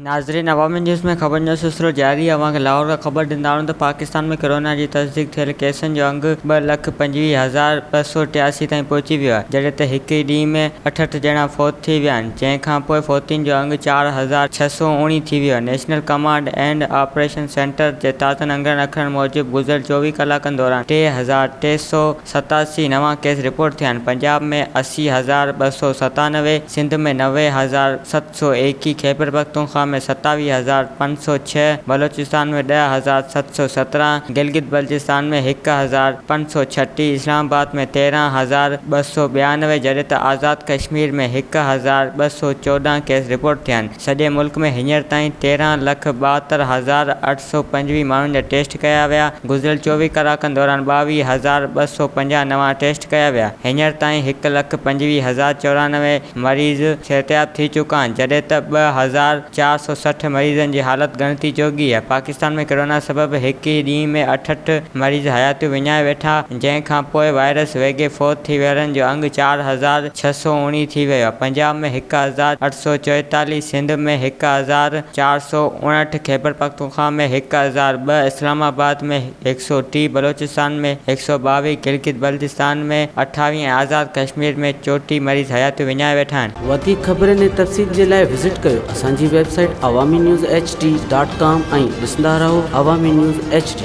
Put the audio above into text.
ناظرين عوامي نيوز ۾ خبرن جو سلسلو جاري اوهان کي لاهور کان خبر ڏيندا آهيون ته پاڪستان ۾ ڪورونا جي تصديق ٿيل ڪيسن جو انگ ٻه لک پنجويهه هزار ٻه سؤ ٽياسي تائين پهچي ويو آهي جڏهن ته هڪ ئي ڏينهن ۾ اٺهٺ ڄڻا فوت ٿي ويا آهن جنهن کان پوء فوتين جو انگ چار هزار ڇهه سؤ اوڻي ٿي ويو. National command and operation centre جي تازن انگرن اکرن موجب گذريل چوويهه ڪلاڪن دوران ٽي هزار ٽي سؤ ستاسي نوان ڪيس رپورٽ ٿيا آهن، پنجاب ۾ اسي هزار ٻه سؤ ستانوي، سنڌ ۾ نوي هزار ست سؤ ايڪيهه، خيبرپختونخوا ۾ ستاويهه هزار پنج سؤ ڇهه، بلوچستان ۾ ڏهه هزار ست سؤ سترهن، گلگت بلجستان ۾ هڪ هزار پنج سؤ ڇٽيهه، اسلام آباد ۾ تيرهن هزار ٻه سؤ ٻيانوي جڏهن ته آزاد ڪشمير ۾ هڪ هزار ٻه سؤ چوڏهن ڪيس رپورٽ ٿيا آهن، سڄي ملڪ ۾ هينئر تائين تيرهن لک ٻاهتر هزار اٺ سؤ پنجويهه ماڻهن جا ٽيسٽ ڪيا ويا، گذريل چوويهه ڪلاڪن دوران ٻاويهه هزار ٻه سؤ پنجاهه نوان ٽيسٽ ڪيا ويا، هينئر تائين هڪ لک پنجويهه هزار چورانوي مريض صحتياب ٿي چڪا آهن، جڏهن ته ٻه هزار چار سؤ سٺ مريضن جي حالت ڳڻتي جوڳي آهي، پاڪستان ۾ ڪرونا سبب هڪ ئي ڏينهن ۾ اٺهٺ مريض حياتيون وڃائي ويٺا، جنهن کان پوء وائرس ويگهي فوت ٿي ويرن جو انگ چار هزار ڇهه سؤ اوڻيهه ٿي ويو آهي، پنجاب ۾ هڪ هزار اٺ سؤ چوئيتاليهه، سنڌ ۾ هڪ هزار چار سؤ اڻهٺ، خيبرپختونخوا ۾ هڪ هزار ٻه، اسلام آباد ۾ هڪ سؤ ٽي، بلوچستان ۾ هڪ سؤ ٻاويهه، گلگت بلتستان ۾ اٺاويهه ۽ آزاد ڪشمير ۾ چوٽيهه مريض حياتيون وڃائي ويٺا آهن. وڌيڪ خبرن ۽ تفصيل جي لاء وزٽ ڪيو اسان جي website Awami news H D dot com ۽ ڏسندا رهو عوامي نيوز ايڇ ڊي.